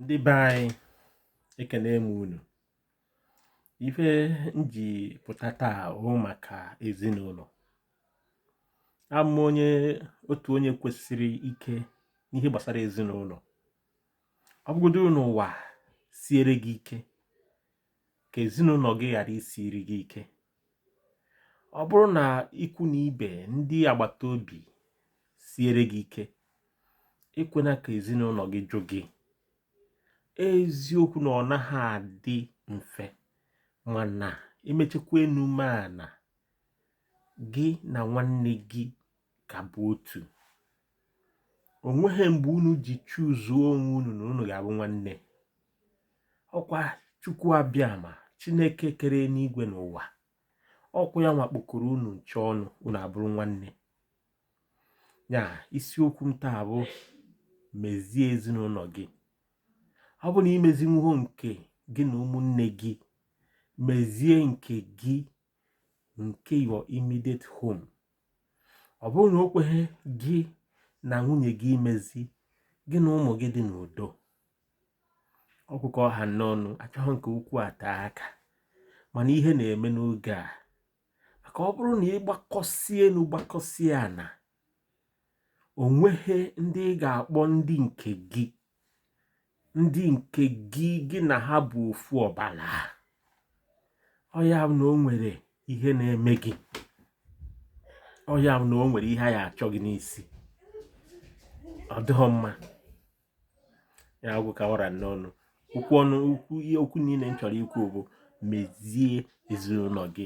ndị be anyị ekene m unu ife m ji pụta taa bụ maka ezinụlọ ama onye otu onye kwesịrị ike n'ihe gbasara ezinụlọ ọ bụgodo na ụwa siere gị ike ka ezinụlọ gị ghara isiri gị ike ọ bụrụ na ikwu na ibe ndị agbata obi siere gị ike ekwena ka ezinụlọ gị jụ gị eziokwu na ọ naghị adị mfe mana e mechekwa enu mee ana gị na nwanne gị ka bụ otu o nweghị mgbe unu ji choosuo onwe unu na unu ga-abụ nwanne ọkwa chukwu abịama chineke kere enigwe na ụwa ọkwa ya nwa kpọkọrọ unu ncha ọnụ unu abụrụ nwanne ya isiokwu m taa bụ mezie ezinụlọ gị ọ bụ na i mezinwughọ nke gị na ụmụnne gị mezie nke gị nke your immediate home ọ bụrụ na o kweghị gị na nwunye gị imezi gị na ụmụ gị dị n'udo ọ gwụ ka ọ ha m n'ọnụ achọghị m ka okwu a tee aka mana ihe na-eme n'oge a maka ọ bụrụ na ị gbakọsie enu gbakọsie ana o nweghị ndị ị ga-akpọ ndị nke gị ndị nke gị gị na ha bụ ofu ọbala ọ ya bụ na o nwere ihe na-eme gị ọ ya bụ na o nwere ihe a ya-achọ gị n'isi ọ dịghị mma ya agwụ ka ọ ra m n'ọnụ okwu niile m chọrọ ikwu bụ mezie ezinụlọ gị